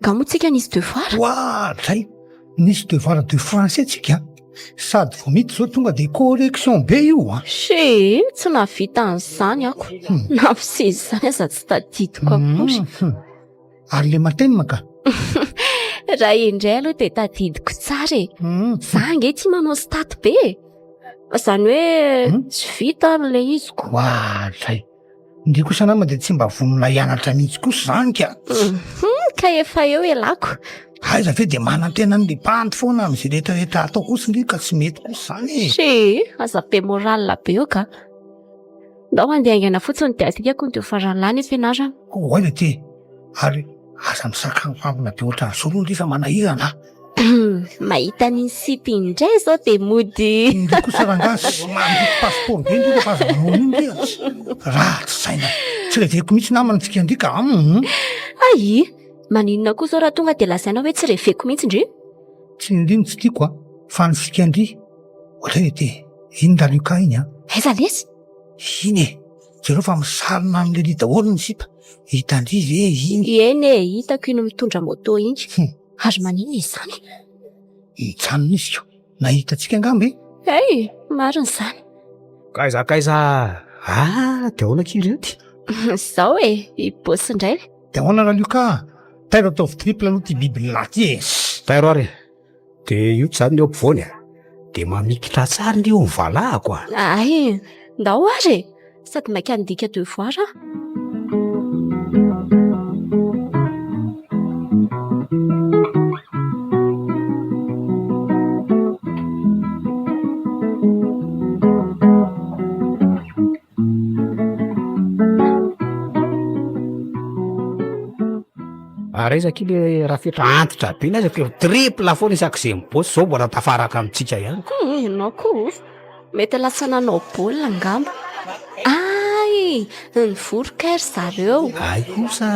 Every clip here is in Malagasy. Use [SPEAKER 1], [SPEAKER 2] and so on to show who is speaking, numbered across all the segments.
[SPEAKER 1] Nga
[SPEAKER 2] moa tsika nisy devoir? Wa, zay!
[SPEAKER 1] Nisy devoir de français tsika an! Sady vao miditra zao tonga de correction be io an! Chéé, tsy
[SPEAKER 2] nahavita an'izany ako! Na fiseza izany aza tsy tadidiko akory! Ary
[SPEAKER 1] le matenina ka!
[SPEAKER 2] Raha indray aloha de tadidiko tsara e! Za ange tia manao stat be e! Fa zany hoe tsy vita ary le izy ko! Wa, zay!
[SPEAKER 1] Ndry kosa nama de tsy mba vonona hianatra mihitsy kosa zany ka ka
[SPEAKER 2] efa eo elako aiza ve de
[SPEAKER 1] manantena ny lipanty foana am'zy rehetra rehetra atao kosa ndry ka tsy mety kosa zany e se aza be
[SPEAKER 2] moral be eo ka ndao handeha haingana fotsiny de asika kony de ho faran'ny lany ny fianarana ho aiza ty
[SPEAKER 1] ary aza misakafo ambina be ohatran'zao aloha ndry fa manahirana a
[SPEAKER 2] Mahita an'iny site iny indray zao de mody Ndry kosa rangahy
[SPEAKER 1] sy mandritra passeport be ndry rehefa aza manao an'iny ndry a! Ratsy saina! Tsy reveko mihitsy namana antsika ndry ka a! Hum! Aii!
[SPEAKER 2] Maninona koa zao raha tonga de lazaina hoe tsy reveko mihitsy ndry? Tsy ny ndry no
[SPEAKER 1] tsy tiako a! Fa ny fika ndry! Ohatrany hoe te iny Raluca iny a! Aiza lesy?
[SPEAKER 2] Iny e!
[SPEAKER 1] Jereo fa misarona an'i Lily daholo ny sipa! Hitandry ve iny? Eny e! Hitako
[SPEAKER 2] iny mitondra moto iny! Hum! Ary maninona izany? Nijanona
[SPEAKER 1] izy ko. Nahita antsika angamba e. Hey, marina
[SPEAKER 2] izany. Kaiza kaiza.
[SPEAKER 3] Ah, dia ahoana kely ity? Zao e,
[SPEAKER 2] i boss indray. Dia ahoana raha lio ka?
[SPEAKER 1] Tairo ataovy triple aloha ity biby lahy ity e. Tairo ary.
[SPEAKER 3] Dia io tsy izany ny eo ampovoany. de mamikitra tsara ny eo ny valahako a ah. ay
[SPEAKER 2] ndao ary e sady maika handika devoir a
[SPEAKER 3] Ary aiza akia le rafetra antitra be n'aiza k'eo triple foana isak'izay mibotsy zao mbola tafaraka amintsika ihany. Ko oa ianao ko oa
[SPEAKER 2] mety lasa nanao baolina angamba. Ay! Nivory kay ry zareo. Ay kosa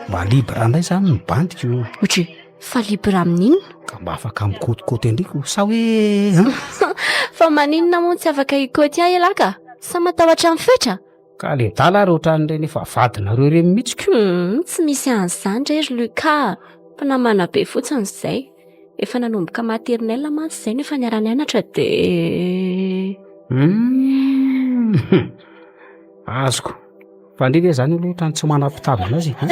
[SPEAKER 3] mba libre indray zany ny bandiko. Ohatry Fa
[SPEAKER 2] libre amin'inona? Ka mba afaka
[SPEAKER 3] mikotikoti an-dry ko sa hoe an? Fa
[SPEAKER 2] maninona moa tsy afaka hikoty ahy ialahy ka? Sa matahotra ny fetra? Ka le dala ary
[SPEAKER 3] ohatran'ireny efa vadinareo ireny mihitsy ko! Humm, tsy misy
[SPEAKER 2] an'izany re ry Luca a! Mpinamana be fotsiny izay. Efa nanomboka maternelle mantsy izay no efa niara-nianatra dia. Humm,
[SPEAKER 3] azoko. Fa ndry ve zany aloha otrany tsy manam pitavana azy e?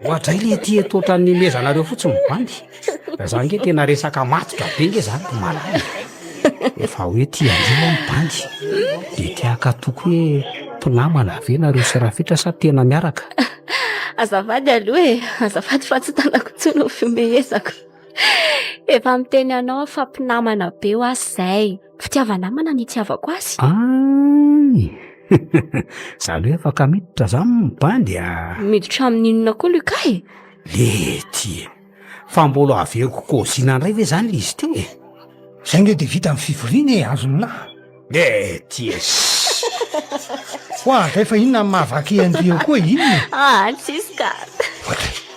[SPEAKER 3] Oadray le ty eto otrany nimezanareo fotsiny mibandy Fa za nge tena resaka matotra be nge zany ko malala e Efa hoe ty andry moa mibandy de te hakato ko hoe mpinamana ve nareo sy Rafitra sa tena miaraka? Azafady
[SPEAKER 2] aloha e, azafady fa tsy tanako intsony ny fihomehezako Efa miteny anao aho fa mpinamana be ho'aho zay. Fitiava-namana ny itiavako azy. Ay!
[SPEAKER 3] Za aloha afaka miditra za amin'ny bandy a! Miditra
[SPEAKER 2] amin'inona koa Lucas e? Lety
[SPEAKER 3] e! Fa mbola haveriko kaozina indray ve izany ilay izy teo e? Izay nge dia
[SPEAKER 1] vita ny fivoriana e, azon'lah! Lety
[SPEAKER 3] e!
[SPEAKER 1] Hoavy fa inona no mahavaky an-dry eo koa e? Inona e? Aa tsisy ka!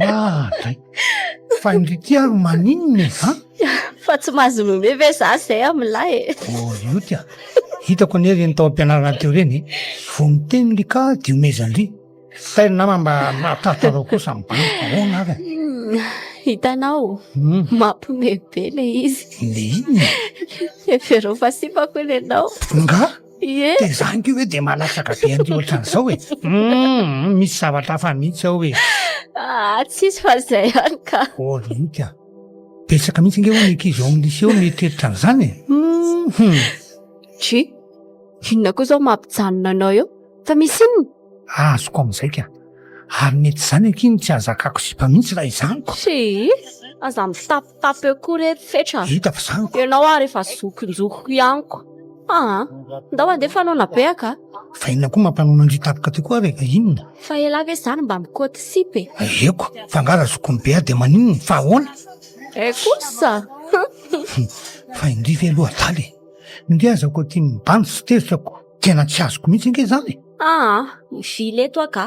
[SPEAKER 1] Ah, dray. Fa indrity ary maninona e, ha? Fa
[SPEAKER 2] tsy mahazo nome ve za zay amin'lahy e? Oh, io tia.
[SPEAKER 1] Hitako anie reny tao am-pianarana teo reny. Vao miteny ly ka diomezan-dry. Fay nama mba mahatatro anao kosa mibana. Ahoana ary? Hmm, hitanao,
[SPEAKER 2] hmm. mampime be le izy. Le inona?
[SPEAKER 1] Eferao
[SPEAKER 2] fa sipako ianao. Nga?
[SPEAKER 1] Ie. Dia izany
[SPEAKER 2] koa ve dia
[SPEAKER 1] malatsaka be an'ity ohatran'izao e? Hum, misy zavatra hafa mihitsy ao e. Ah, tsisy
[SPEAKER 2] fa izay ihany ka. Oh, mihitsy ah.
[SPEAKER 1] Betsaka mihitsy ange hono ny ankizy ao amin'ny lycée mieritreritra an'izany e.
[SPEAKER 2] Hum.
[SPEAKER 1] Tchi, inona
[SPEAKER 2] koa izao mampijanona anao eo? Fa misy inona? Ah, azoko amin'izay
[SPEAKER 1] ka. Ary mety izany ankiany tsy hahazakako sipa mihitsy raha izany. Tchi,
[SPEAKER 2] aza mitapy. Fa peu koa re ry fetra a! Ianao
[SPEAKER 1] ary efa
[SPEAKER 2] zokinjokiko ihany ko! Aa! Ndao andeha fa noana be aka a! Fa inona koa mampanao
[SPEAKER 1] mandria tapaka tokoa ary e? Inona? Fa elah ve zany
[SPEAKER 2] mba mikoty sipa e? Aieko! Fa nga
[SPEAKER 1] raha zokiny be ahy dia maninona? Fa ahoana? Eh kosa! Fa indria ve aloha adala e! Indria aza koa tia mibandy sy tezitra koa! Tena tsy azoko mihitsy ange izany e! Aa! Mivily
[SPEAKER 2] eto aho ka!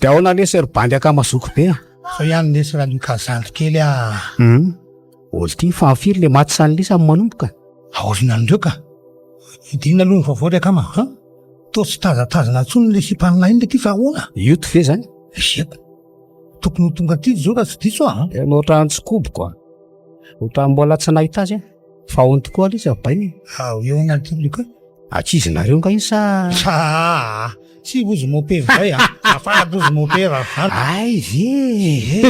[SPEAKER 3] Dia ahoana lesy ry bandy akama zoky be a? Sao ihany lesy raha
[SPEAKER 1] lioka zandry kely a. Hum,
[SPEAKER 3] ol ty fa firy le maty sany lesy amin'ny manomboka? Aoriana an'ireo ka.
[SPEAKER 1] Dinina aloha ny vaovao ry akama a. Toa tsy tazatazana intsony ilay sipan'ilay inona ity fa ahoana? Yoto ve izany?
[SPEAKER 3] Esepo.
[SPEAKER 1] Tokony ho tonga aty izy izao raha tsy diso aho a. Tena ohatran'ny tsikoboko
[SPEAKER 3] a. Ohatran'ny mbola tsy nahita azy aho. Fa ahoana tokoa aloha izy abainy e? Ao eo ny antony
[SPEAKER 1] koa. Ankizy nareo nga
[SPEAKER 3] iny sa? Aa!
[SPEAKER 1] Tsy vous moquez zay a! Afara douze moquez ra an! Ay ve
[SPEAKER 3] e!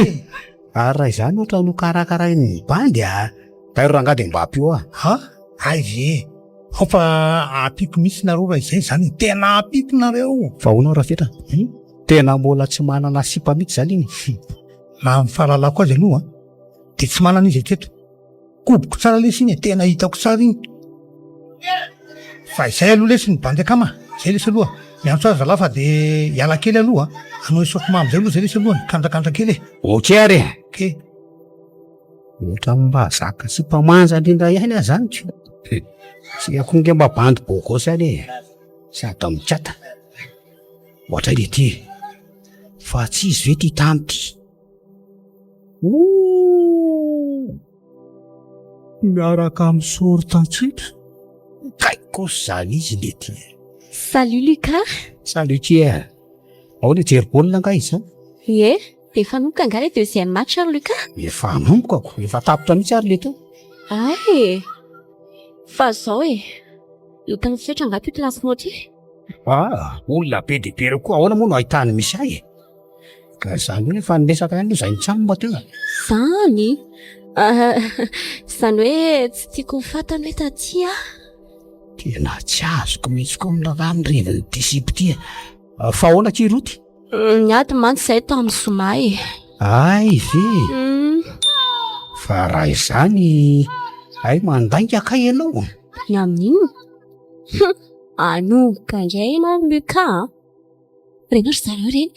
[SPEAKER 3] Ary raha izany ohatra no karakarain'ny bandy a! Tairo rangahy dia mba ampio aho. Ha? Ay ve
[SPEAKER 1] e! Ao fa ampiako mihitsy nareo raha izay izany e! Tena ampiako nareo! Fa ahoana Rafetra?
[SPEAKER 3] Tena mbola tsy manana sipa mihitsy izany iny? Raha ny
[SPEAKER 1] fahalalako azy aloha dia tsy manana izy hatreto. Koboko tsara lesy iny e, tena hitako tsara iny fa izay aloha lesy ny bandy akama, zay lesy aloha, miantso azy zalahy fa de hiala kely aloha an, hanao esofo mamy zay aloha zay lesy aloha, mikandrakandra kely e. Ok ary e. Ok. Ohatran'ny
[SPEAKER 3] mba zaka tsy mba manja indrindra ihany aho zany ka. Tsy akory nge mba bandy bogosy any e, sady mikata, ohatran'ity e, fa tsy izy ve ty tany ty? Miaraka amin'ny short an-tsipy. Kay kosa izany izy nety e! Salut
[SPEAKER 2] Lucas! Salut Tia!
[SPEAKER 3] Ahoana hijery baolina angaha izao? Ie, efa
[SPEAKER 2] hanomboka angaha ilay deuxième match ry Lucas? Efa hanomboka ko!
[SPEAKER 3] Efa tapitra mihitsy ary lety eo! Hay e!
[SPEAKER 2] Fa izao e! Hita misetra angaha ity plasy nao ity? Ah!
[SPEAKER 3] Olona be dia be ireo koa ahoana moa no ahitany misy ahy e! Ka zany hoe efa niresaka ihany izay nitsamba teo e. Zany?
[SPEAKER 2] Zany hoe tsy tiako ho fantany hoe taty aho. Tena
[SPEAKER 3] tsy azoko mihitsy koa ny raharaha ny reviny ty sipa ty e. Fa ahoana akia Roty? Niady mantsy
[SPEAKER 2] izahay tao amin'ny zoma e. Hay
[SPEAKER 3] ve? Fa raha izany hay mandainga kay ianao. Ny amin'inona?
[SPEAKER 2] Hum, hanohitra indray ianao Luca a. Reny ry zareo reny.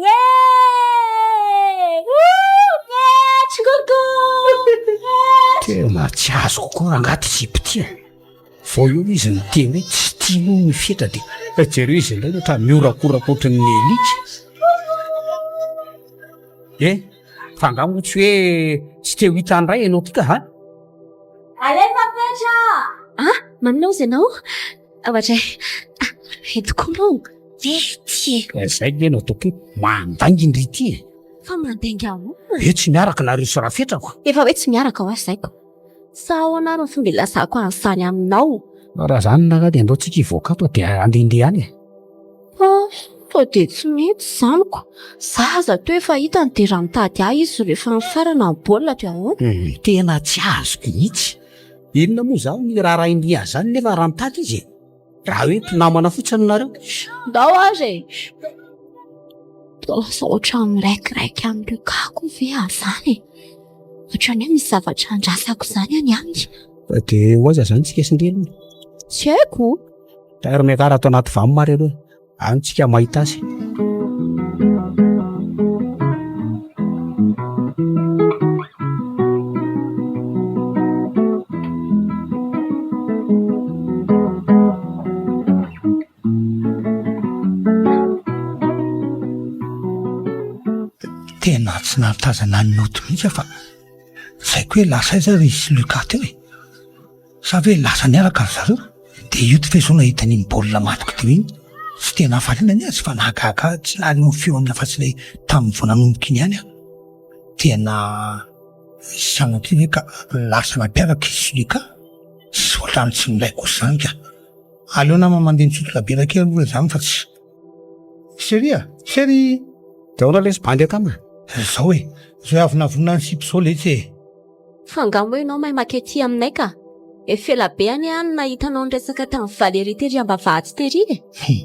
[SPEAKER 2] Ye!
[SPEAKER 3] Tena tsy azoko koa rangaha ty sipa ty e. Vao eo izy niteny hoe tsy tiany hono ny fetra dia eh, jereo izy indray ohatra mihorakoraka ohatran'ny alika. Eh, fa angaha moa tsy hoe tsy te ho hita indray ianao ty ka ha?
[SPEAKER 2] Alefa fetra! Ah, maninona hozy ianao? Tahotra e. Ah, ry tokoa moa dia ity
[SPEAKER 3] e. Ka izay ve no tokoa mandainginy ry ity e. Fa mandainga
[SPEAKER 2] ahoana? Hoe tsy miaraka nareo
[SPEAKER 3] sy rafetrako. Efa hoe tsy miaraka ho'a
[SPEAKER 2] zaiko. Sa ahoana ary ny fomba ilazako an'izany aminao? Raha izany ngah
[SPEAKER 3] dia andao tsika hivoaka ato dia handehandeha any e. Ah, sao
[SPEAKER 2] dia tsy mety izany ko. Za aza toa efa hitany dia raha mitady ahy izy rehefa mifarana ny baolina dia ahoana? Tena tsy azoko
[SPEAKER 3] mihitsy. Inona moa izany ny raharahin'i Hazany nefa rampaty izy e? Raha hoe mpinamana fotsiny nareo. Ndao aza e!
[SPEAKER 2] Toa lasa ohatran'ny miraikiraiky amin'ireo kako ve Hazany e? Ohatran'ny hoe misy zavatra andrasako izany any aminy. Fa dia ho aiza
[SPEAKER 3] izany tsika sy Neny? Tsy haiko.
[SPEAKER 2] Tairo miakara
[SPEAKER 3] ato anaty vam mareo aloha. Any tsika mahita azy.
[SPEAKER 1] Tena tsy nahatazana ny note mihitsy aho fa tsy haiko hoe lasa aiza ary i Sylukah teo e! Sa ve lasa niaraka ry zareo? Dia io ty Fezona hitany iny baolina matoky teo iny, tsy dia nahafaliana ny azy fa nahagaga ahy, tsy nahaliana ny feony afa-tsy ilay tamin'ny vao nanomboka iny ihany aho. Tena sanatria ve ka lasa nampiaraka i Sulika? Tsy ohatran'ny tsy nilaiko kosa izany ka. Aleo nama mandeha misotro labiera kely aloha izany fa tsy. Cherie a! Cherie! Dia ahoana
[SPEAKER 3] lesy bandy akama? Ry zao e!
[SPEAKER 1] Izao e avonavonina ny sipa izao lesy e! Fa angaha moa
[SPEAKER 2] ianao mahay maka ety aminay ka? Efa ela be anie aho no nahita anao niresaka tamin'i Valérie tery ambavahady tery e! He,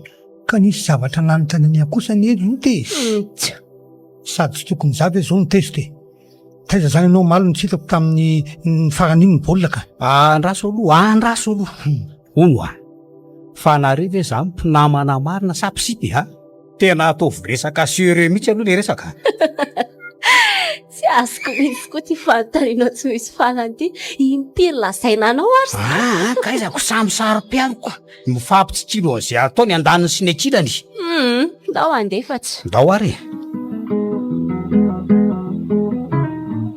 [SPEAKER 2] ka nisy zavatra
[SPEAKER 1] nanontaniany ahy kosa anie ry Ota e! Hum-tsa! Sady tsy tokony za ve izao no tezitra e! Taiza izany ianao omaly no tsy hitako tamin'ny ny farany iny ny baolina ka? Andraso aloha,
[SPEAKER 3] andraso aloha! Hono ho'a! Fa nareo ve izany mpinamana marina sa mpisipy ha? Tena ataovy resaka serieux mihitsy aloha le resaka a!
[SPEAKER 2] Tsy azoko mihitsy koa ity fanontaniana tsy misy farany ity. Impiry lazaina anao ary zany? Aa ka aiza ko samy
[SPEAKER 3] saro-piaro ka! Mifampitsikiry an'izay atao ny andaniny sy ny ankilany. Humm! Ndao
[SPEAKER 2] handefa tsy. Ndao ary e!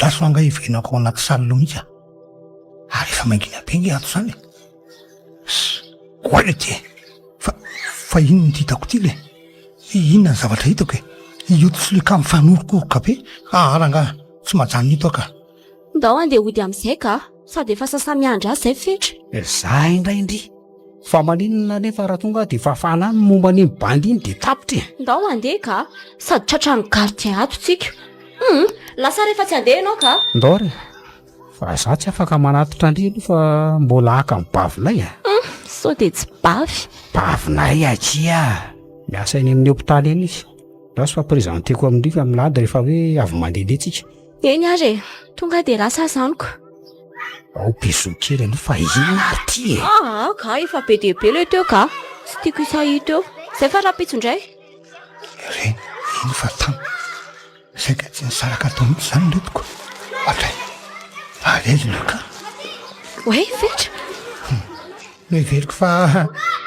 [SPEAKER 1] Lasa ho angaha iverenako ao anaty salle ao mihitsy aho. Ary efa mangina be nge ato zany e. Goaila ity e. Fa fa inona ity hitako ity le? Inona ny zavatra hitako e? Io tsolika mifanorokoroka be. Hahala angaha tsy majanona eto aho ka. Ndao andeha hody
[SPEAKER 2] amin'izay ka. Sady efa sasa-miandry azy izay fetra. Za indray ndry.
[SPEAKER 3] Fa maninona anefa raha tonga aho dia fafana any ny momba an'iny bandy iny dia tapitra e. Ndao handeha ka,
[SPEAKER 2] sady tratran'ny gardien ato tsika. Hum, lasa rehefa tsy handeha ianao ka. Ndao re,
[SPEAKER 3] fa za tsy afaka manatitra ndry aloha fa mbola haka ny bavinay a. Hum, sao dia
[SPEAKER 2] tsy bavy. Bavinay
[SPEAKER 3] akia. Miasa eny amin'ny hopitaly eny izy. Ndao sy fa presenteko amin-dry fa milady rehefa hoe avy mandehandeha tsika. Eny ary e!
[SPEAKER 2] Tonga dia lasa aza amiko. Ao
[SPEAKER 3] Bisous kely anie fa inona ary ity e! Aa ga efa be
[SPEAKER 2] dia be ilay teo ga! Tsy tiako hisahia teo. Izay fa rahampitso indray. Re,
[SPEAKER 1] eny fa tamy. Sainga tsy nisaraka tao mihitsy izany ny lotoko. Ohatray. Avelina ka. Oay
[SPEAKER 2] fetra. Hum.
[SPEAKER 1] Noheveriko fa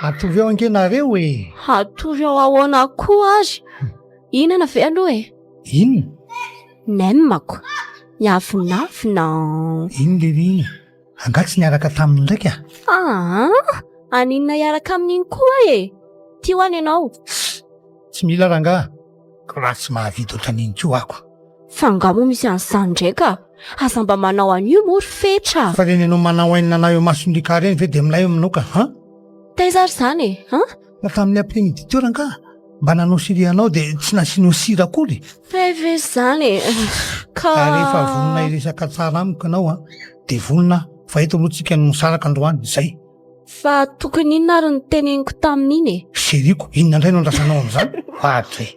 [SPEAKER 1] hatory ao ange nareo e! Hatory ao
[SPEAKER 2] ahoana koa ary? Hihinana ve aloha e! Inona? N'aime-ko. Miavonavona an! Iny
[SPEAKER 1] le hoe iny. Angaha tsy niaraka taminy ndraiky ah? Aa! Aninona
[SPEAKER 2] hiaraka aminy iny koa e! Tia ho'a ny anao. Tsy
[SPEAKER 1] mila rangaha. Ko raha tsy mahavidy ohatran'iny koa ako. Fa angaha moa
[SPEAKER 2] misy an'izany indray ka! Aza mba manao an'io moa ry fetra a! Fa ireny anao manao
[SPEAKER 1] aina anà eo mason'i Ricard ireny ve dia milay eo aminao ka an! Taiza ary
[SPEAKER 2] izany e! An! Fa tamin'ny après-midi
[SPEAKER 1] teo rangaha mba nanao sirih anao dia tsy nasianao sira akory e. Hay ve izany
[SPEAKER 2] e. Ka. Ary rehefa vonona
[SPEAKER 1] hiresaka tsara amiko ianao an, dia vonona aho. Fa eto aloha tsika no misaraka androany. Izay. Fa
[SPEAKER 2] tokony inona ary ny teneniko tamin'iny e? Chérie-ko, inona indray no
[SPEAKER 1] andrasanao amin'izany? Vadiko e.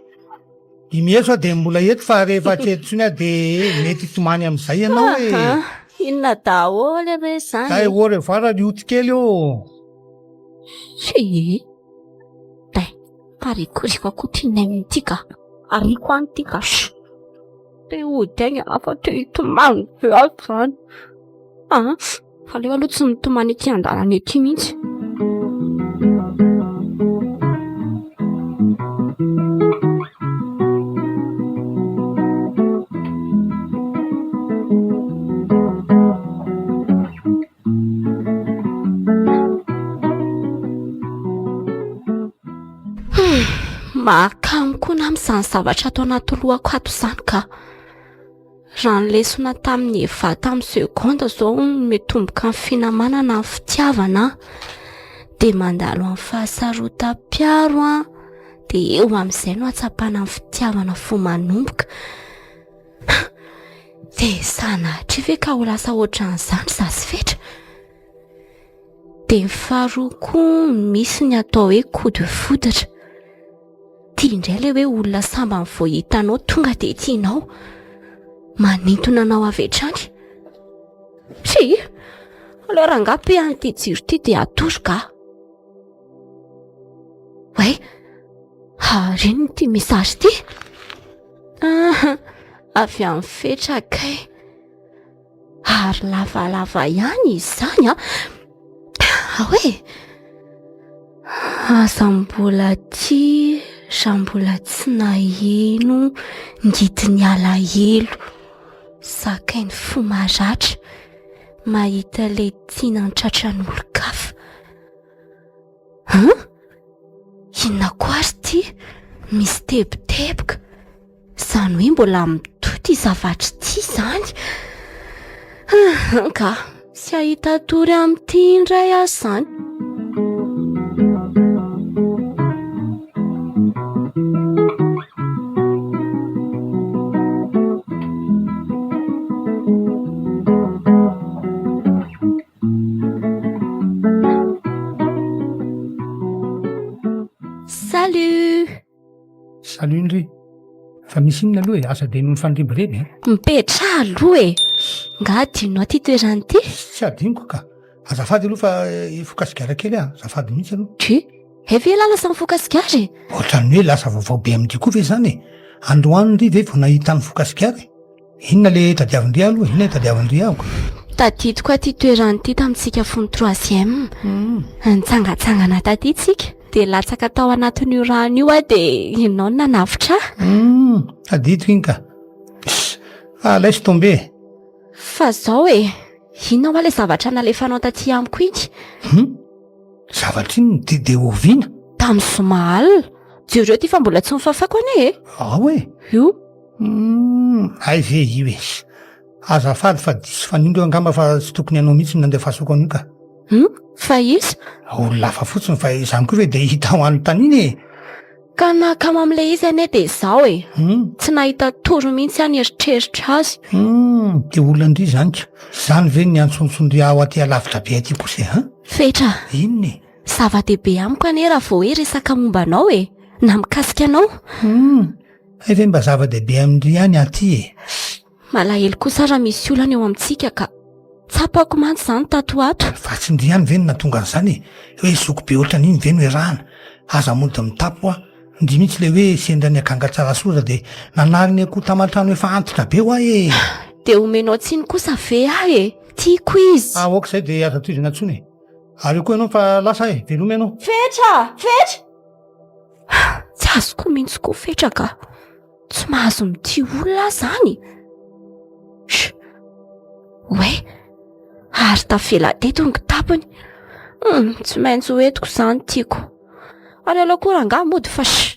[SPEAKER 1] I Mieso aho dia mbola eto fa rehefa tsy eto intsony aho dia mety hitomany amin'izay ianao e. Inona
[SPEAKER 2] daholo re izany e. Hay au revoir ry
[SPEAKER 1] otikely ô. Hee.
[SPEAKER 2] Day, parikoriko akoho ty ny ainy ty ka. Ariako any ty ka. Te hody aigna aho fa te hitomany be aho zany. Aa, fa aleo aloha tsy mitomany ety an-dalana ety mihitsy. Mahakamo koa na amin'izany zavatra ato anaty lohako ato izany ka. Raha ny lesona tamin'ny Eva tamin'ny seconde izao no mitomboka ny finamanana ny fitiavana dia mandalo amin'ny fahasarotam-piaro dia eo amin'izay no hahatsapana ny fitiavana fo manomboka. Dia sanatria ve ka ho lasa ohatran'izany za sy fetra? Dia ny faharoa koa misy ny atao hoe coup de foudre. Tia indray ilay hoe olona sambany vao hitanao tonga dia tianao. Manintona anao avy hatrany. Tsia, aleo rangahy pe an ity jiro ity dia atoroko aho. Oay, ary inona ity message ity? Ah, avy amin'ny fetra kay. Ary lavalava ihany izany an. Ah. Ahoa e. Aza mbola tia raha mbola tsy naheno ny didin'ny alahelo. Zakay ny fo maratra mahita ilay tiana tratran'olon-kafa. Huh? Inona koa ary ity? Misy teboteboka. Izany hoe mbola mitohy ity zavatra ity izany. Ka, tsy hahita tory amin'ity indray aho izany.
[SPEAKER 1] Salut! Salut ndry! Fa misy inona aloha e? Aza dia mifandrebireby e! Mipetraha aloha
[SPEAKER 2] e! Nga adinonao ity toerana ity? Tsy adinoko ka!
[SPEAKER 1] Azafady aloha fa hifoka sigara kely aho, azafady mihitsy aloha! Tchou! Hay ve
[SPEAKER 2] ialahy lasa mifoka sigara e? Ohatran'ny hoe lasa vaovao
[SPEAKER 1] be amin'ity koa ve izany e? Androany ndry ve vao nahita nifoka sigara e? Inona le tadiavin-dry aloha? Inona le tadiavin-dry amiko? Tadidiko aty
[SPEAKER 2] toerana ity tamintsika fony troisième. Hmm. Nitsangatsangana taty tsika dia latsaka tao anatin'io rano io aho dia ianao no nanavotra ahy. Hmm.
[SPEAKER 1] Tadidiko iny ka. Fa alay sy tombe. Fa
[SPEAKER 2] zao e, inona hoa le zavatra nalefanao taty amiko iny? Hmm. Zavatra
[SPEAKER 1] iny dia dia oviana? Tamin'ny zoma
[SPEAKER 2] alina. Jereo ty fa mbola tsy nofafako anie e. Ao e. Io. Humm
[SPEAKER 1] hay ve io e! Azafady fa diso fanindro angamba fa tsy tokony anao mihitsy ny nandefasako an'io ka! Humm fa
[SPEAKER 2] iza? Olona hafa fotsiny
[SPEAKER 1] fa izany koa ve dia hita ho anontaniana e! Ka ny nahakamo
[SPEAKER 2] amin'ilay izy anie dia izao e! Humm! Tsy nahita tory mihitsy aho nieritreritra azy! Humm! Dia olona
[SPEAKER 1] ndry izany ka! Izany ve no niantsontson-dry ahy ho aty alavitra be aty kosa e! Humm! Fetra!
[SPEAKER 2] Inona e!
[SPEAKER 1] Zava-dehibe amiko
[SPEAKER 2] anie raha vao hoe resaka momba anao e! Na mikasika anao! Humm!
[SPEAKER 1] Hay ve mba zava-dehibe amin-dry ihany aty e! Malahelo
[SPEAKER 2] kosa raha misy olana eo amintsika ka. Tsapako mantsy izany tato ho ato. Fa tsy ndry ihany ve no
[SPEAKER 1] nahatonga an'izany e! Hoe zoky be ohatran'iny ve no iarahana? Aza mody mitapy hoa. Ndry mihitsy ilay hoe sendra ny akanga Tsarasoza dia nanary ny akoho taman-trano efa antitra be hoa e! Dia omenao
[SPEAKER 2] tsiny kosa ve aho e! Tiako izy! Ah, ok izay dia aza
[SPEAKER 1] tohizana intsony e! Ary eo koa ianao fa lasa e! Veloma ianao! Fetra! Fetra!
[SPEAKER 2] Tsy azoko mihitsy koa fetra ka. Tsy mahazo mitia olona aho zany. Sh. Oe. Ary tafela teto ny kitapony. Hmm, tsy maintsy ho etiko zany tiako. Aleo aloha koa rangahy mody fa sh.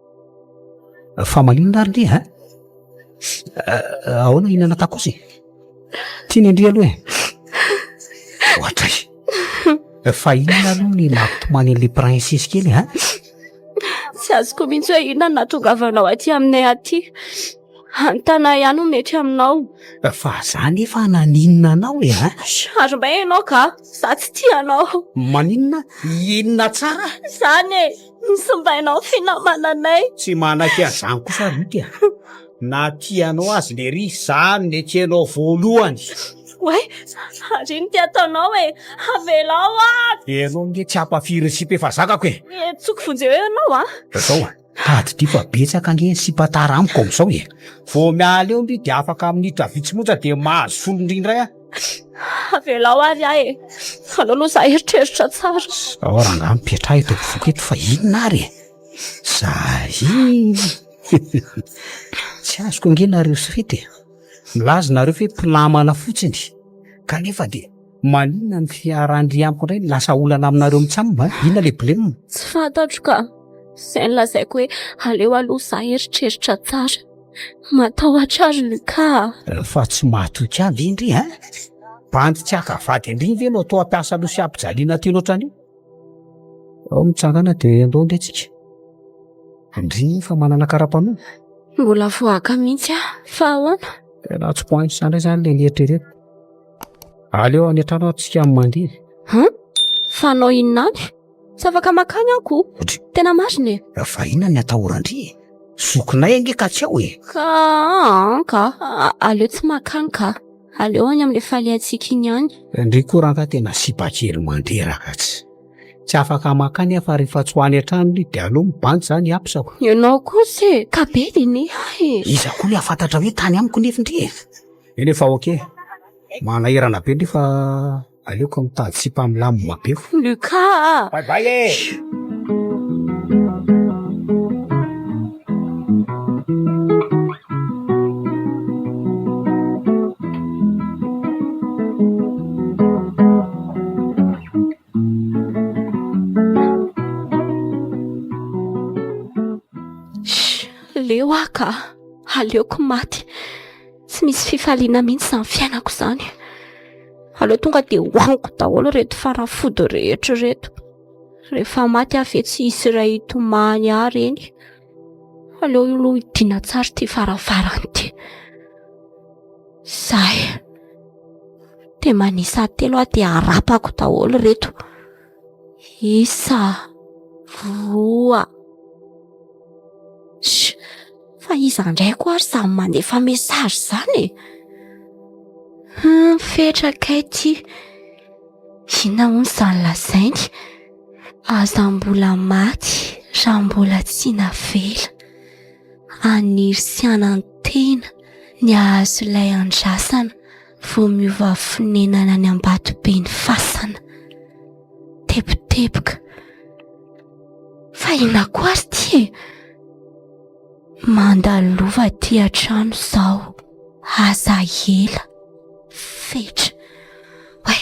[SPEAKER 3] fa maninona ary nge a ahoana hinana takos e tiany andria aloha e ohatray fa inona aloha ny mampitomany an'le princesy kely a
[SPEAKER 2] tsy azoko mihitsy hoe inona no nahatongavanao aty aminay aty antana ihany ho mety aminao fa za
[SPEAKER 3] nefa naninona anao e a ary mba
[SPEAKER 2] ianao ka za tsy tia anao maninona
[SPEAKER 3] inona tsara zany e
[SPEAKER 2] Misimbainao finamananay. Tsy manaiky
[SPEAKER 3] an'izany kosa ry Ruth a! Na tianao azy lery izany nekenao voalohany. Oay,
[SPEAKER 2] ary ino ty ataonao e? Avelao aho! Ianao
[SPEAKER 3] nge tsy hampafiry ny sipa efa zakako e! Hetsoko vonjeo
[SPEAKER 2] eo ianao a! Zao a!
[SPEAKER 3] Tadidio fa betsaka nge ny sipa tara amiko amin'izao e! Vao miala eo ndry dia afaka minitra vitsy monja dia mahazo solondry indray aho.
[SPEAKER 2] Avelao ary ahy e. Aleo aloha za eritreritra tsara. Ao rangaha mipetraha
[SPEAKER 3] eto ampovoako eto fa inona ary e? Zahiny. Tsy azoko ange nareo sy fety e. Milaza nareo fe mpinamana fotsiny kanefa dia maninona ny fiharan-dry amiko indray no lasa olana aminareo mitsam a? Inona le blem? Tsy fantatro ka.
[SPEAKER 2] Zay no lazaiko hoe aleo aloha za eritreritra tsara. Matahotra azy ny ka. Fa tsy matoky
[SPEAKER 3] ahy ve indry a? Bandy tsy haka vady indry ve no toa mpiasa aloha sy ampijaliana aty loatra anio? Ao mitsangana dia andao indray tsika.
[SPEAKER 2] Indry
[SPEAKER 3] fa
[SPEAKER 2] manana
[SPEAKER 3] karapanondro.
[SPEAKER 2] Mbola
[SPEAKER 3] voaka
[SPEAKER 2] mihitsy aho
[SPEAKER 3] fa
[SPEAKER 2] ahoana?
[SPEAKER 3] Tena tsy point sa indray izany ilay nieritreretiko. Aleo any an-trano aho tsika mandeha. Hum?
[SPEAKER 2] Fanao inona any? Tsy afaka makany aho ko. Otry. Tena marina e. Ravahina ny
[SPEAKER 3] atahoran-dry e. Zokinay ange ka tsy ao e. Ka an
[SPEAKER 2] ka. Aleo tsy makany ka. Aleo any amin'ilay falehantsika iny ihany. Ndry courant ka tena
[SPEAKER 3] sipa kely mandreraka tsy. Tsy afaka makany aho fa rehefa tsy ho any an-trano ry dia aleo mibanjy zany hiapisako. Ianao kosa e.
[SPEAKER 2] Ka be dia ne ahy e. Iza koa le
[SPEAKER 3] hafantatra hoe tany amiko nefy ndry e. Eny e fa ok. Manahirana be ndry fa Aleoko mitady sipa milamina be fo. Lucas
[SPEAKER 2] a! Bye bye e! Leo aho ka! Aleoko maty! Tsy misy fifaliana mihitsy izany fiainako izany. aleo tonga de hoaniko daholo reto fanafody rehetra reto rehefa maty aho ve tsy hisy iray hitomany ahy reny aleo io loha hidina tsara ity faravarany ity zay de manisa telo aho de arapako daholo reto Isa, roa. Sh! Fa iza indray koa ary izany manefa message izany e? Hum, fetra kay ity. Inona hono izany lazainy? Aza mbola maty raha mbola tsy navela. Haniry sy hanantena ny hahazo ilay andrasana. Vao miova fonenana any ambatobe ny fasana. Teboteboka. Fa ina koa ary ty e. Mandalova ty an-trano zao. Aza ela. Fetra. Way.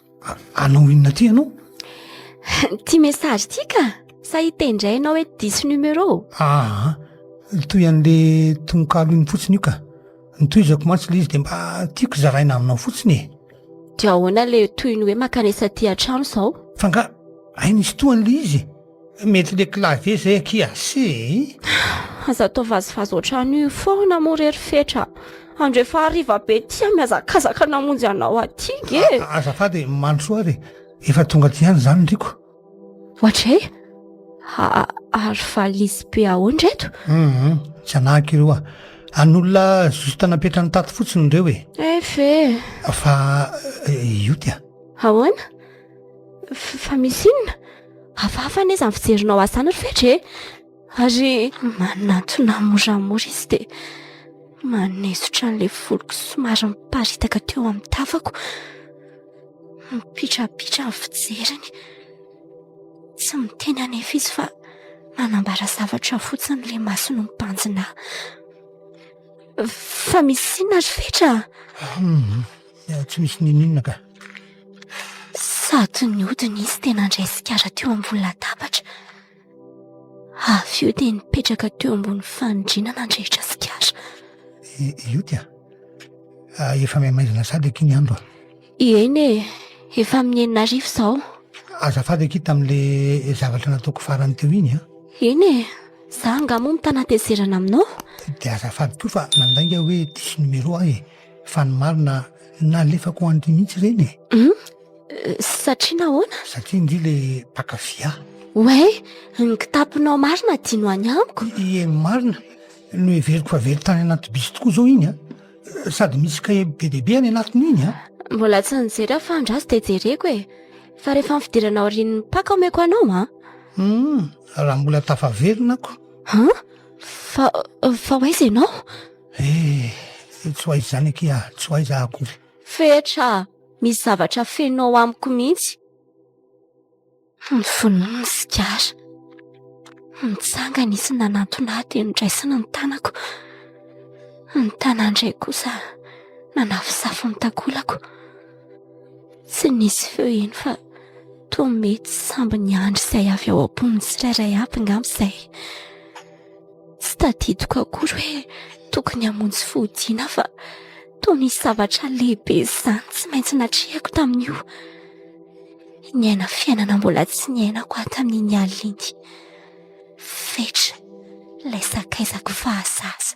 [SPEAKER 1] anao inona ty ianao
[SPEAKER 2] ty message ty ka sa hita indray ianao hoe diso numero aa
[SPEAKER 1] toy an'le tononkalo iny fotsiny io ka nitoizako mantsy le izy de mba tiako zaraina aminao fotsiny e de ahoana
[SPEAKER 2] le toy ny hoe makanesa ty an-trano zao fa nga
[SPEAKER 1] hay nisy tohan'le izy Mety le clavier zay akia se e!
[SPEAKER 2] Aza atao vazivazy otran'io foana moa re ry fetra a! Andro efa hariva be ty a! Mihazakazaka namonjy anao aty nge e! Azafady e! Mandrosoa
[SPEAKER 1] ary e! Efa tonga aty ihany za ny riko. Ohatray?
[SPEAKER 2] Ary valises be ahoana ireto? Hum! Tsy
[SPEAKER 1] anahiko ireo a! An'olona juste napetrany tato fotsiny ireo e! Eef e!
[SPEAKER 2] Fa
[SPEAKER 1] io ty a! Ahoana?
[SPEAKER 2] Fa misy inona? Hafahafa anie izany fijerinao azy izany ry Fedra e! Ary manantona moramora izy dia manesotra an'ilay voloko somary miparitaka teo amin'ny tafako. Mipitrapitra ny fijeriny. Tsy miteny anefa izy fa manambara zavatra fotsiny ilay masony mibanjina ahy. Fa misy inona ry Fedra?
[SPEAKER 1] Tsy misy n'inon'inona ka.
[SPEAKER 2] Sady niodina izy dia nandray sigara teo ambony latabatra. Avy eo dia nipetraka teo ambony fanindriana nandrehitra sigara. Io
[SPEAKER 1] tia. Ah, efa maimaizina sady aky ny andro. Eny e,
[SPEAKER 2] efa amin'ny enina arivo izao. Azafady aky
[SPEAKER 1] tamin'ilay zavatra nataoko farany teo iny a. Eny e,
[SPEAKER 2] za angaha moa mitana hatezerana aminao? Dia azafady
[SPEAKER 1] koa fa nandainga hoe diso numéro aho e. Fa ny marina nalefako ho an-dry mihitsy ireny e. Hum?
[SPEAKER 2] Satria nahoana? Satria ndry le
[SPEAKER 1] mpakafy ahy. Oe,
[SPEAKER 2] ny kitaponao marina dia no any amiko? Ie marina,
[SPEAKER 1] noheveriko fa very tany anaty bisy tokoa izao iny an! Sady misy kahie be dia be any anatiny iny an! Mbola tsy nijery
[SPEAKER 2] aho fa andraso dia jereko e! Fa rehefa ny fidirana aorian'ny mpaka omeko anao an! Hum,
[SPEAKER 1] raha mbola tafaverina ako. Hum?
[SPEAKER 2] Fa, fa ho aiza ianao?
[SPEAKER 1] Eh! tsy ho aiza izany akia, tsy ho aiza akory. Fetra a!
[SPEAKER 2] misy zavatra feno ao amiko mihitsy. Novonoiny ny sigara. Nitsangana izy nanantona ahy dia nodraisiny ny tanako. Ny tanany iray kosa nanafosafo ny takolako. Tsy nisy feo iny fa toa mety samby niandry izay avy ao am-pon'ny tsirairay avy ngamba izay. Tsy tadidiko akory hoe tokony hamonjy fodiana fa toa misy zavatra lehibe izany tsy maintsy natrehako tamin'io. Niaina fiainana mbola tsy niainako aho tamin'iny alina iny. Fetra ilay sakaizako fahazaza.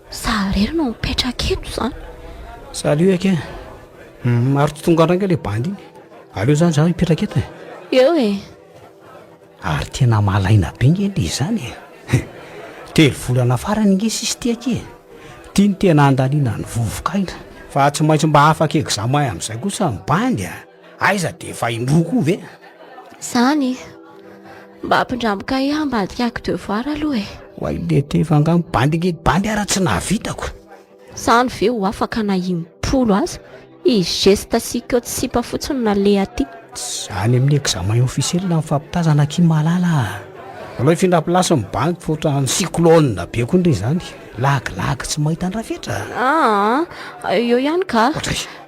[SPEAKER 2] Za irery no mipetraka eto zany. Salut
[SPEAKER 3] Ake, hum ary tsy tonga andraika le bandy iny, aleo zany za hipetraka eto e. Eo e. Ary tena malaina be nge le izany e. Hum, telo volana farany nge sisy ty Ake e. Ty no tena andaniana ny vovoka aina. Fa tsy maintsy mba afaka examen amin'izay kosa ny bandy a. Aiza de efa indroa koa ve? Zany?
[SPEAKER 2] Mba ampindramo kahie hambadika ako devoir aloha e. Oay le te efa nga
[SPEAKER 3] mibandy nge bandy ara tsy nahavitako. Zany
[SPEAKER 2] ve ho afaka na impolo aza? I geste sy ikeo tsy sipa fotsiny no naleha aty. Tss, any amin'ny
[SPEAKER 3] examen officiel no mifampitazana aky malala a. Alao hifindra place mibandy fa ohatran'ny cyclone be koa ndry zany. Lagilagy tsy mahita andrafetra. Aa,
[SPEAKER 2] eo ihany ka. Ohatry.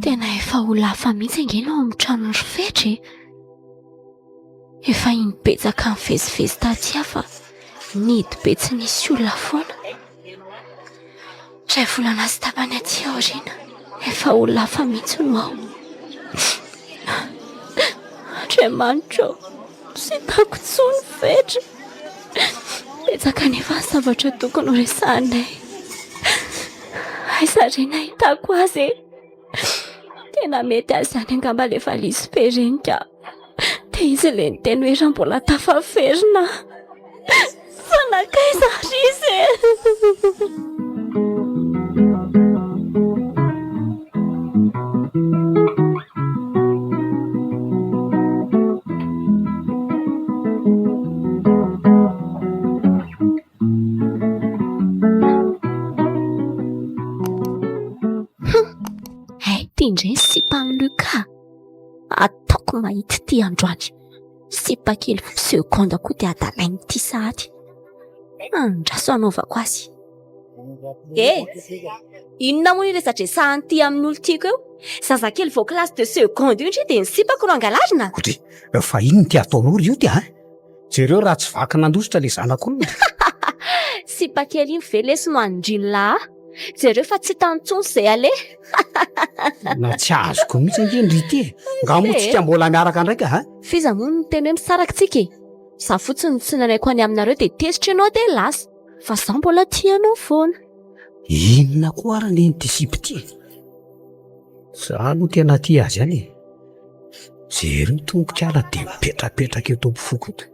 [SPEAKER 2] Tena efa ho lafa mihitsy ange ny ao amin'ny tranon'i Rofetra e! Efa iny betsaka nivezivezy taty aho fa nihidy be tsy nisy olona foana. Iray volana sy tapany aty aoriana, efa ho lafa mihitsy no ao. Andriamanitra ô! Tsy hitako intsony ny fetra. Betsaka anefa ny zavatra tokony horesahinay. Aiza re ny ahitako azy e? Tena mety azy izany angamba ilay valizy sy pereniko. Dia izy ilay niteny hoe raha mbola tafaverina aho. Fa nankaiza ary izy e? Hay ity indray ny sipan'i Luca. Ataoko mahita ity androany. sipa kely vao segondra koa dia adalainy ity sahady fa andraso anaovako azy eh inona moa io resadresahany ity amin'ny olo tiako eo zazakely vao classe de seconde io ndry dia ny sipako no angalarina kotre fa inona
[SPEAKER 3] ity ataonao ry ioty a jereo raha tsy vaky nandositra ilay zanak'olona
[SPEAKER 2] sipa kely iny ve lesy no anindrin'lah Jereo fa tsy hitany intsony izay aleha.
[SPEAKER 3] Na tsy azoko mihitsy ange ny Rite e! Nga moa tsika mbola miaraka indray ka a! F'iza moa no niteny hoe
[SPEAKER 2] misaraka tsika e! Za fotsiny no tsy nalaiko any aminareo dia tezitra ianao dia lasa. Fa za mbola tia anao foana. Inona
[SPEAKER 3] koa ary anie ity sipa ity e! Za aloha tena tia azy ihany e! Jereo ny tongotr'ala dia mipetrapetraka eto am-pofoko eto.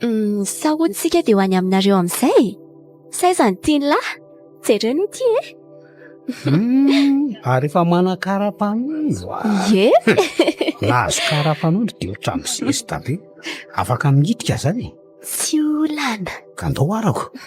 [SPEAKER 3] Ny
[SPEAKER 2] sahonintsika dia ho any aminareo amin'izay e! Sa aiza ny tian'lah? Jereo ny ity e! Hum, ary
[SPEAKER 3] efa manana kara-panondro a! Ie! Raha azo kara-panondro dia ohatran'ny zesta be. Afaka mihitika izany e! Tsy
[SPEAKER 2] olana. Ka ndao arako.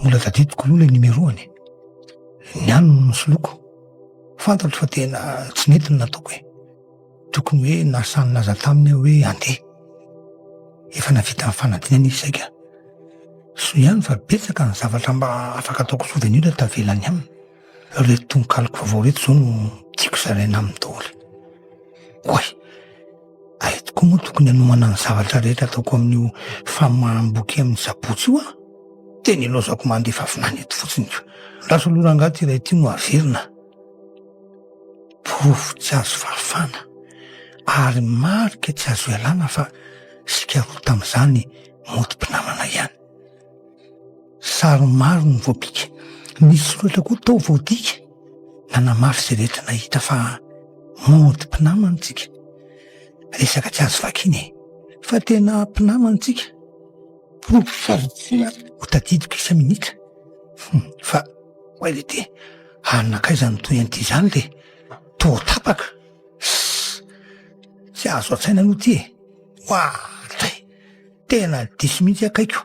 [SPEAKER 1] Mbola tadidiko aloha ilay numéro-ny e. Ny any no nosoloiko. Fantatro fa tena tsy nety ny nataoko e. Tokony hoe nasa nilaza taminy aho hoe andeha. Efa navita ny fanadinana izy saika. Soa ihany fa betsaka ny zavatra mba afaka ataoko souvenir tavela any aminy. Ireto tononkaloko vaovao ireto izao no tiako zaraina aminy daholo. Oay! Aiza tokoa moa tokony hanomana ny zavatra rehetra ataoko amin'io famaham-boky amin'ny Sabotsy io aho? Tena ilaozako mandefa vinany eto fotsiny io. Rasoloha rangahy ty iray ty no averina. Porofo tsy azo fahafana ary marika tsy azo ialana fa isika roa tamin'izany mody mpinamana ihany. Sary maro no voapika. Nisy loatra koa tao vao dika. Nanamafy izay rehetra nahita fa mody mpinamana isika. Resaka tsy azo vakina e! Fa tena mpinamana isika. Porofo sy azo antsoina ary ho tadidiko isa-minitra. Hum, fa oay le dia any nankaiza no toy an'ity izany le? Toa tapaka. Sss! Tsy azo an-tsaina aloha ity e! Oay! Tena diso mihitsy akaiky o!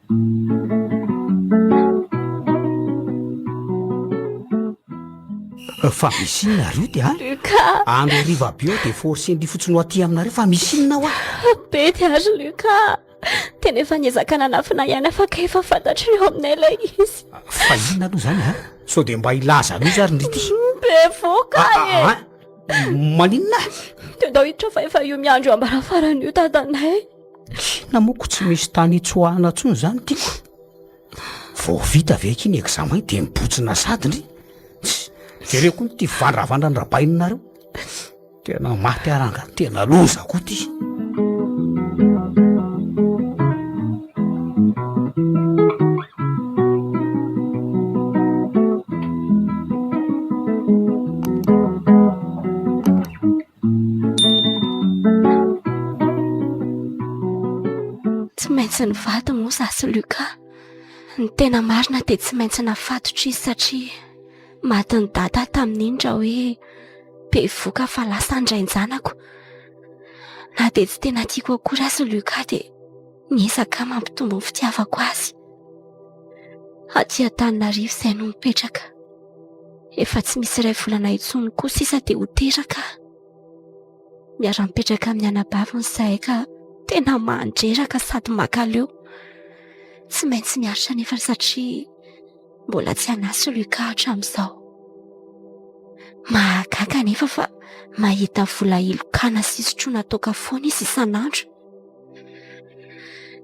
[SPEAKER 3] Fa misy inona ary io dia Luka andro
[SPEAKER 2] hariva aby eo
[SPEAKER 3] dia forcendry fotsiny ho aty aminareo fa misy inona hoa be dia ary
[SPEAKER 2] Luka tena efa niezaka nanafina ihany afaka efa fantatry ny eo aminay ilay izy fa inona aloha
[SPEAKER 3] izany a sao dia mba hilaza anao izy ary ny rity bevoka
[SPEAKER 2] e
[SPEAKER 3] maninona dia
[SPEAKER 2] ndao hiditra fa efa io miandro ambarafarana io dadanay Na moa
[SPEAKER 3] ko tsy misy tany hitsoahana intsony zany tiako. Vao vita ve aky ny examen dia mibotsina sady ndry. Jereo koa ity vandravandran rabaininareo. Tena maty aho ranga, tena loza koa ty.
[SPEAKER 2] Tsy maintsy nivady moa izaho sy Luca. Ny tena marina dia tsy maintsy nafatotra izy satria matin'i Dada tamin'iny raha hoe bevoka fa lasa ny rain-janako. Na dia tsy tena tiako akory aza i Luca dia niezaka aho mampitombo ny fitiavako azy. Aty Antananarivo izahay no mipetraka. Efa tsy misy iray volana intsony koa sisa dia ho teraka aho. Miara-mipetraka amin'ny anabaviny izahay ka tena mandreraka sady mankaleo. Tsy maintsy miaritra anefa satria mbola tsy an'asa i Lucas hatramin'izao. Mahagaga anefa fa mahita vola hilokana sy hisotroana toaka foana izy isan'andro.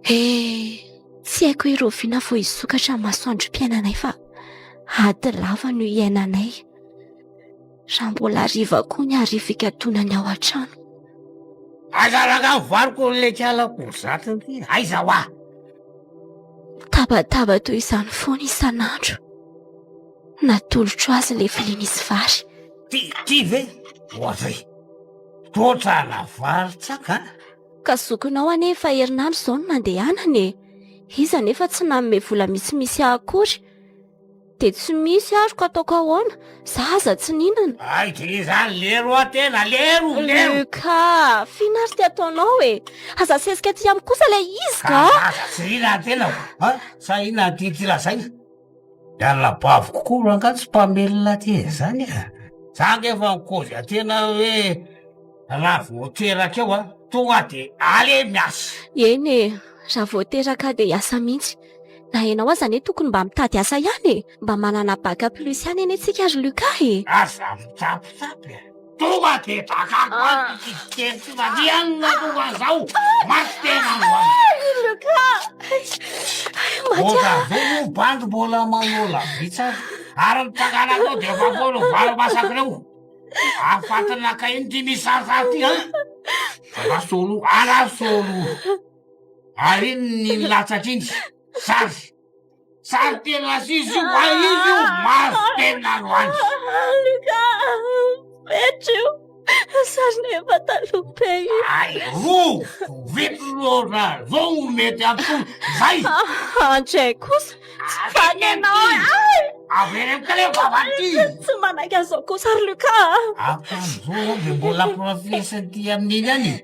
[SPEAKER 2] Eh, tsy haiko hoe roviana vao hisokatra ny masoandrom-piainanay fa ady lava no iainanay. Raha mbola hariva koa ny hariva hikatonany ao an-trano. Aza
[SPEAKER 3] rakany valiko ny lekalako ny zatony ty, aiza hoa? Tabataba
[SPEAKER 2] toy izany foana isan'andro. Natolotro azy ilay vilia nisy vary. Ty, ty ve?
[SPEAKER 3] Ohatry, toa trana vary tsaka. Ka zokinao
[SPEAKER 2] anie efa herinandro izao no nandehanany e! Izy anefa tsy nanome vola misimisy ahy akory. Dia tsy misy ary ko ataoko ahoana? Za aza tsy nihinana. Hay dia izany
[SPEAKER 3] lery hoa tena lery o! Lery! Luka!
[SPEAKER 2] F'inona ary ty ataonao e! Aza asesika aty amiko kosa ilay izy ka a! Aza tsy riran'ny tenako
[SPEAKER 3] a! Sa inona no tian'ity lazaina? Miala bavoko koa rangahy tsy mpamelona aty zany e. Za nge efa nikoza tena hoe raha vao teraka eo an, tonga de ale miasa. Eny e,
[SPEAKER 2] raha vao teraka de hiasa mihitsy. Na ianao aza anie tokony mba mitady asa ihany e. Mba manana bac plus ihany anie tsika ry Lucas e. Aza
[SPEAKER 3] mitapitapy e. Tonga de drakako any ny fitsipika tsy varianina tonga zao maty tena andro any Milka
[SPEAKER 2] Mbola
[SPEAKER 3] ve io bandy mbola manao lavitsy azy ary ny takanakao de efa foana ho valo masaka reo afatinaka iny ty misy sarisary ty an Rasolo a Rasolo ary iny ny nilatsaka iny sary Sary tena aziz io wa izy io maso tena ro any alika
[SPEAKER 2] metra io sarina efa taloha be io ay ro
[SPEAKER 3] vito ro ra zo mety ato zay andray
[SPEAKER 2] kosa tsy fanenao ay avereno
[SPEAKER 3] kale vavati tsy manaiky an'izao
[SPEAKER 2] kosa ry luka
[SPEAKER 3] akan'izao de
[SPEAKER 2] mbola
[SPEAKER 3] profesy aty amin'iny any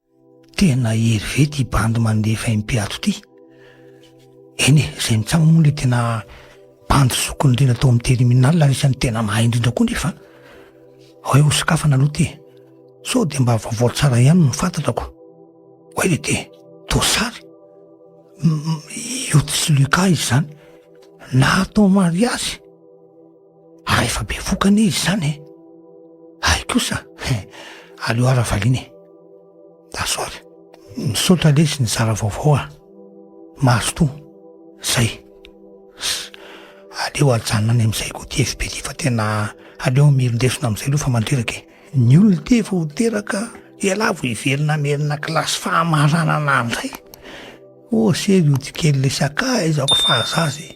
[SPEAKER 1] Tena hery ve ty bandy mandefa MP ato ty? Eny e, zay mitsam moa le tena bandy zoky indrindra tao amin'ny terminal ary isan'ny tena mahay indrindra koa nefa. Hoe ho sokafana aloha ty. Sao dia mba vaovao tsara ihany no fantatrako. Hoe le ty, Dosary. Io tsy Lucas izy zany. Nahatao mariazy. Ary efa be voka anie izy zany e. Hay kosa, aleo ara valiana e. Dasoary. Misaotra lesy nizara vaovao a. Mazotoa. Zay. Aleo ajanona any amin'izay koa ty FB ty fa tena aleo mirin-desona amin'izay aloha fa mandreraka e. Ny olona ty efa ho teraka ialahy vao hiverina hamerina kilasy fahamaranana indray. Ô sery ody kely le sakay izao ko fahazaza e.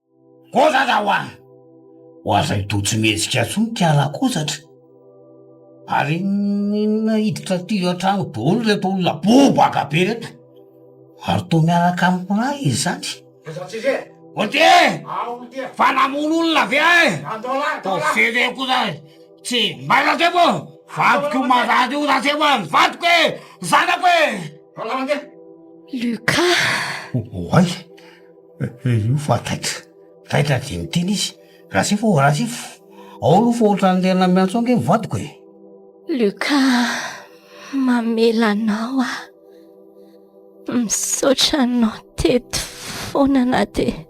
[SPEAKER 3] Oza za wa! Ho azany toa tsy mihetsika intsony ty ala kozatra. Ary n'inona hiditra aty an-trano daholo ireto olona bobaka be ireto? Ary toa miaraka amiko ra izy zany? Oltier! Fa namono olona ve ahy? Toa fene kosa tsy may Ratrebo! Vadiko io marary io Ratrebo a! Vadiko e! Zanako e!
[SPEAKER 2] Lucas!
[SPEAKER 3] Oay! Io fa taitra, taitra dia miteny izy, Rasifo ô, Rasifo, ao aloha fa ohatran'ny tena miantso ange ny vadiko e! Luca,
[SPEAKER 2] mamela anao aho, misaotra anao teto foana na dia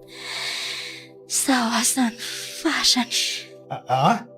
[SPEAKER 2] izaho aza ny farany. Aa.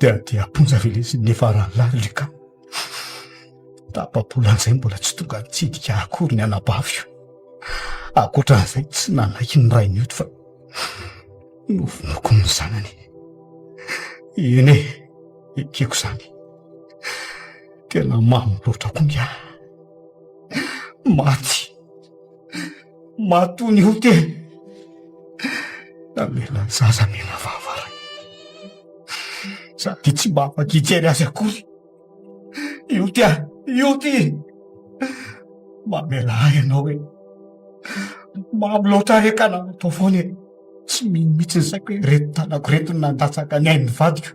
[SPEAKER 3] Dia dia am-ponja ve lesy ny efa rahalahy Luka? Tapa-bola an'izay mbola tsy tonga nitsidika akory ny anabaviko. Ankoatra an'izay tsy nanaiky ny rainy eto fa novonoiko ny zanany. Eny e, ekeko izany. Tena mamy loatra koa ny ahy. Maty. Matoa ny ho teny. Namela ny zaza mena vava ray. Izaho dia tsy mba afaka hijery azy akory. Io ty an, io ty. Mamela ahy ianao e. Mamy loatra re ka nanao foana e. Tsy mino mihitsy ny saiko hoe ireto tanako ireto no nandatsaka ny ain'ny vadiko.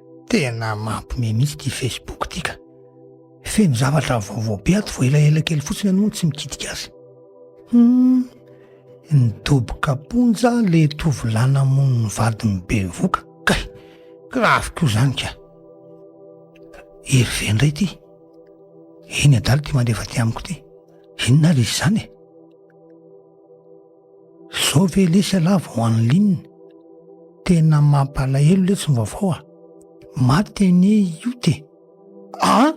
[SPEAKER 1] Tena mampime mihitsy ity Facebook ity ka. Feno zavatra vaovao be ato vao elaela kely fotsiny ianao no tsy mikitika azy. Hum, nidoboka am-ponja le tovolahy namono ny vadiny bevoka. Kay, grave koa izany ka. Hervé indray ity. Eny adala ity mandefa aty amiko ity. Inona ary izy izany e? Zao ve lesy ialahy vao en ligne? Tena mampalahelo letsy ny vaovao a! Maty anie i Yout e! Ah!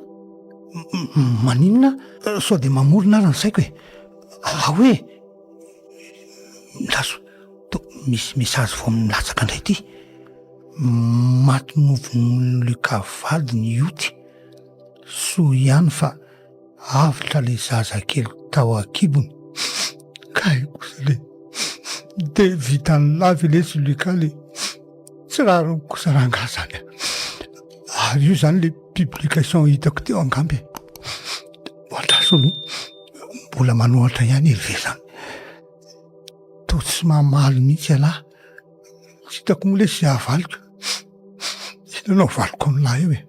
[SPEAKER 1] Maninona aho sao dia mamorona ary ny saiko e! Aa hoe! Milaza, toa misy message vao milatsaka indray ity! Maty novonoin'i Luka vadiny i Yout! Soa ihany fa. avotra le zaza kely tao akibony kay kosa le de vitany lava le zulika le tsy rariny kosa rangah zany a ary io zany le publication hitako teo angamba e andraso aloha mbola manohatra ihany iry ve zany to tsy mamaly mihitsy ialahy tsy hitako moa le sy havaliko inona no avaliko amin'lah eo e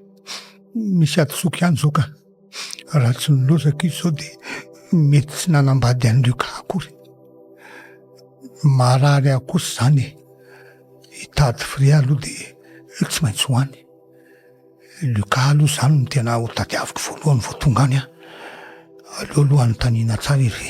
[SPEAKER 1] Misy hadisoako ihany zao ka raha tsy nilozaka izy zao dia mety tsy nanambady an'i Luca akory. Marary ahy kosa izany e. Hitady fria aloha dia tsy maintsy ho any. Luca aloha izany no tena hotadiaviko voalohany vao tonga any aho. Aleo aloha anontaniana tsara iry ve.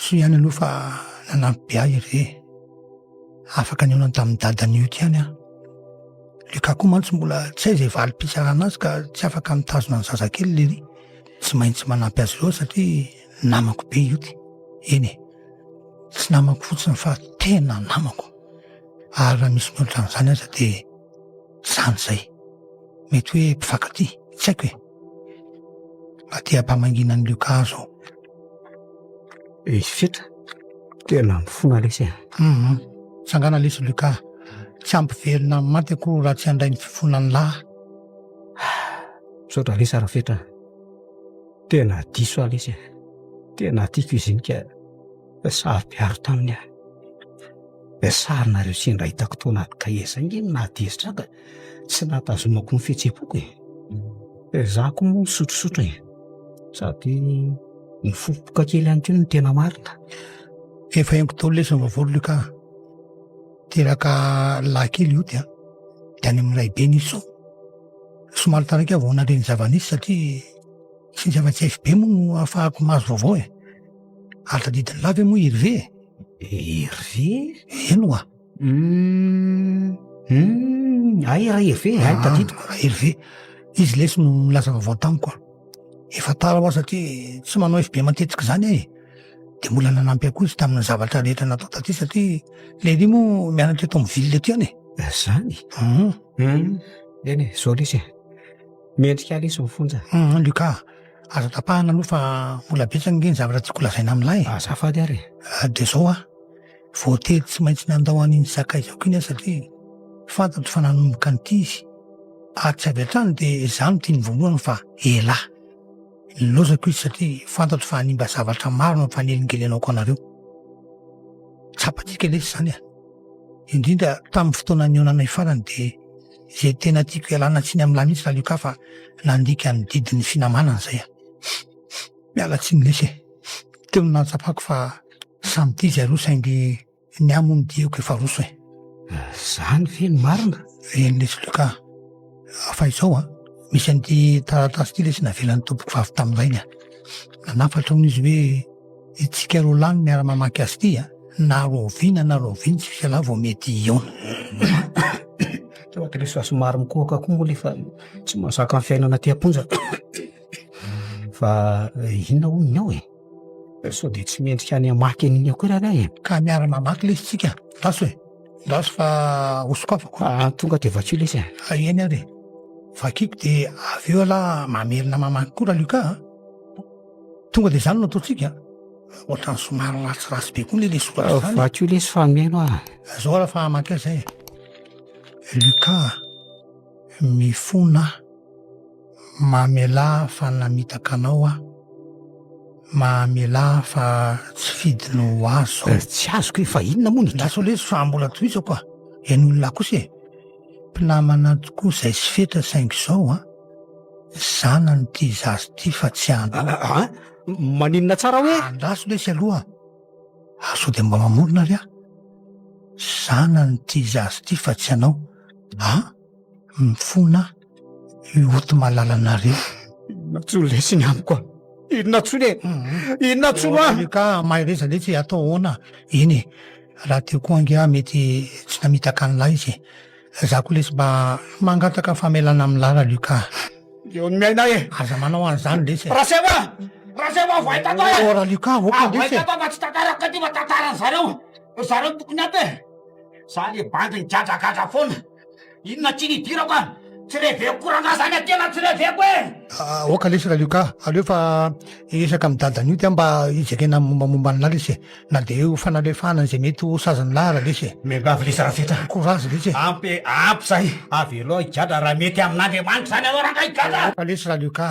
[SPEAKER 1] Soa ihany aloha fa nanampy be ahy i Hervé e. Afaka nihaonany tamin'i Dada Nioty ihany aho. Luka koa mantsy mbola tsy hay izay valim-pitsarana azy ka tsy afaka mitazona ny zazakely lery. Tsy maintsy manampy azy ireo satria namako be Ioty. Eny e, tsy namako fotsiny fa tena namako. Ary raha misy mihoatra an'izany aza dia izany izay. Mety hoe mpifankatia, tsy haiko e. aty am-pamanginan'i Luka zao. Izy
[SPEAKER 3] fitra, tena mifona lesy e. Mhm.
[SPEAKER 1] Tsangana lesy Luka, tsy hampiverina amin'ny maty akory raha tsy handray ny fifonan'ny lahy.
[SPEAKER 3] Misaotra lesy Rafetra, tena diso aho lesy e. Tena tiako izy iny ka. Saro-piaro taminy aho. Ilay sarinareo sendra hitako tao anaty kahie izay ange no nahatezitra ahy ka tsy nahatazomako ny fihetseham-poko e. Izaho koa moa misotrasotra e, sady nifofoka kely ihany koa no tena marina. Efa
[SPEAKER 1] henoko daholo ilay zava-baovao Luc a. Teraka lahy kely hody an, dia any amin'ny raibeny izy sao. Somary taraiky aho vao nandre ny zava-nisy satria tsy nisy afa-tsy FB moa no ahafahako mahazo vaovao e. Ary tadidin'i Lahy ve moa i Hervé e? Hervé? Eny oa. Hum,
[SPEAKER 3] hum, hay raha Hervé, hay ah, tadidiko. Raha Hervé,
[SPEAKER 1] izy lesy no nilaza vaovao tamiko a. Efa tara hoa satria tsy manao FB matetika izany aho e. Dia mbola nanampy ahy koa izy tamin'ny zavatra rehetra natao taty satria Léry moa mianatra eto amin'ny ville aty any e. Ah, izany? Hum.
[SPEAKER 3] Hum, eny e, izao lesy e. Mendrika ahy lesy mifonja. Hum, Lucas.
[SPEAKER 1] Aza tapahana aloha fa mbola betsaka ange ny zavatra tiako holazaina amin'lah e. Azafady ary e.
[SPEAKER 3] Dia izao
[SPEAKER 1] aho, voatery tsy maintsy nandao an'iny sakaizako iny aho satria fantatro fa nanomboka nitia izy. Ary tsy avy hatrany dia izaho no tiany voalohany fa elah. Nilaozako izy satria fantatro fa hanimba zavatra maro ny fanelingelenako anareo. Tsapantsika lesy izany e. Indrindra tamin'ny fotoana nihaonanay farany dia. Izay tena tiako hialana tsiny amin'lah mihitsy lalio ka fa nandika ny didin'ny finamanana izay aho. Miala tsiny lesy e. Teo no nahatsapako fa samy tia izay roa saingy ny ahy moa ny diako efa roso e. Izany
[SPEAKER 3] ve no marina? Eny lesy Luka.
[SPEAKER 1] Fa izao an, misy an'ity taratasy ity lesy navelan'ny tompoko vavy tamin'izay ny ahy. Nanafatra hono izy hoe. Itsika roa lahy no miara mamaky azy ity a! Na rahoviana na rahoviana tsy misy ialahy vao mety hihaona.
[SPEAKER 3] Sao ry Krisy fa somary mikohaka koa moa le fa tsy mahazaka ny fiainana aty am-ponja fa inona hono ny ao e? Sao dia tsy mendrika any hamaky an'iny akory ary aho e? Ka miara mamaky
[SPEAKER 1] lesy tsika, andraso e! Andraso fa ho sokafako. Ah, tonga dia vakio
[SPEAKER 3] lesy e! Ah, eny ary e!
[SPEAKER 1] Vakiko dia avy eo ialahy mamerina mamaky koa Raluca a! Tonga dia izany no ataontsika ohatrany somary ratsiratsy be koa le le soratra izany. Vakio lesy fa meno ah.
[SPEAKER 3] Zao raha fa hamaky
[SPEAKER 1] azy zay. Luka, mifona mamelà fa namitaka anao ah, mamelà fa tsy fidiny ho azy zao. Eh, tsy azoko e, fa
[SPEAKER 3] inona moa ny. Lasa lesy fa mbola
[SPEAKER 1] tohizako ah, enon'lah kosa e. Mpinamana tokoa izay sy fetra saingy izao an! zanany ity zaza ity fa tsy an. An! Maninona
[SPEAKER 3] tsara hoe. Andraso lesy aloha
[SPEAKER 1] ary sao dia mba mamorona ary aho. Zanany ity zaza ity fa tsy anao. An! Mifona aho. Mioty malalanareo. Inona tsy ho
[SPEAKER 3] lesiny amiko an? Inona tsy ho le? Inona tsy ho an? Ka mahereza le
[SPEAKER 1] tsy atao ahoana? Eny e, raha teo koa ange aho mety tsy namitaka an'ilay izy. Za koa lesy mba mangataka famelana amin'i Lara Luka. Eo ny miaina
[SPEAKER 3] e! Aza manao an'izany
[SPEAKER 1] lesy e! Raseva! Raseva
[SPEAKER 3] avo hay tantara e! Ora Luka, ok lesy e! Avo hay
[SPEAKER 1] tantara fa tsy tantara
[SPEAKER 3] katifa tantaran'i zareo. Ry zareo tokony ampy e! Za le bandy migadragadra foana. Inona tchiny idirako an? Tsy reveko koa rangaha zany atena tsy reveko e! Ah, oka lesy Ralioka,
[SPEAKER 1] aleo fa hiresaka amin'ny dadan'io dia mba hijerena mombamomba an'lah lesy e. Na dia eo fanalefahana an'izay mety ho sazan'ny lah ary lesy e. Miangavy lesy Rafetra.
[SPEAKER 3] Courage lesy e. Ampy e,
[SPEAKER 1] ampy zay.
[SPEAKER 3] Avelao higadra raha mety amin'Andriamanitra zany ianao rangaha higadra. Oka lesy Ralioka.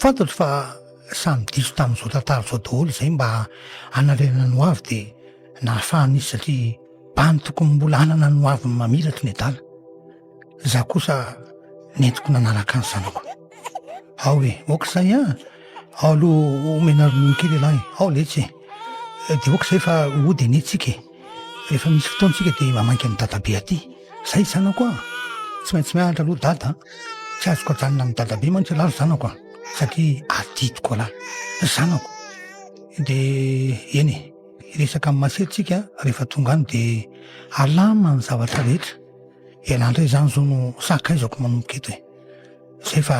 [SPEAKER 1] Fantatro fa samy diso tamin'izao tantara izao daholo izay mba hanarenana ny hoavy dia nahafahana izy satria mba ny tokony mbola hanana ny hoaviny mamiratra ny adala. Izaho kosa nentiko nanaraka ny zanako. Ao e, ok izay an, ao aloha omena ronono kely ialahy, ao letsy e, dia ok izay fa hody anie tsika e. Rehefa misy fotoana tsika dia mamainka an'i dadabe aty. Zay zanako a! Tsy maintsy mianatra aloha dada a! Tsy azoko ajanona amin'i dadabe mantsy raha zanako a! Satria adidiko raha zanako. Dia eny e! Hiresaka amin'i Masera tsika rehefa tonga any dia alama ny zavatra rehetra. Ialahy indray zany zao no sakaizako manomboka eto e! Zay fa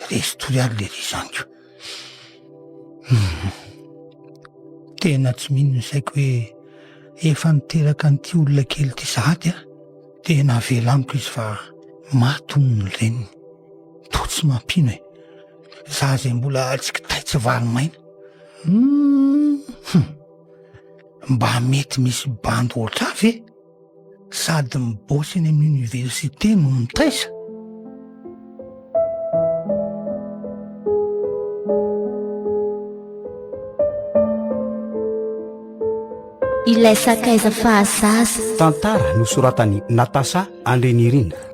[SPEAKER 1] resy tory ary le ry zaniko. Tena tsy mino ny saiko hoe efa niteraka an'ity olona kely ity sahady an! Tena avela amiko izy fa maty hono ny reniny. Toa tsy mampino e! Za izay mbola tsy kitay tsy vary maina. Hum! Mba mety misy bandy ohatrà ve? sady mibaosy any amin'ny oniversite no mitaisa?
[SPEAKER 3] Ilay
[SPEAKER 2] sakaiza
[SPEAKER 3] fahazaza.
[SPEAKER 2] Tantara
[SPEAKER 3] nosoratan'i
[SPEAKER 2] Natasha
[SPEAKER 3] Andrinirina.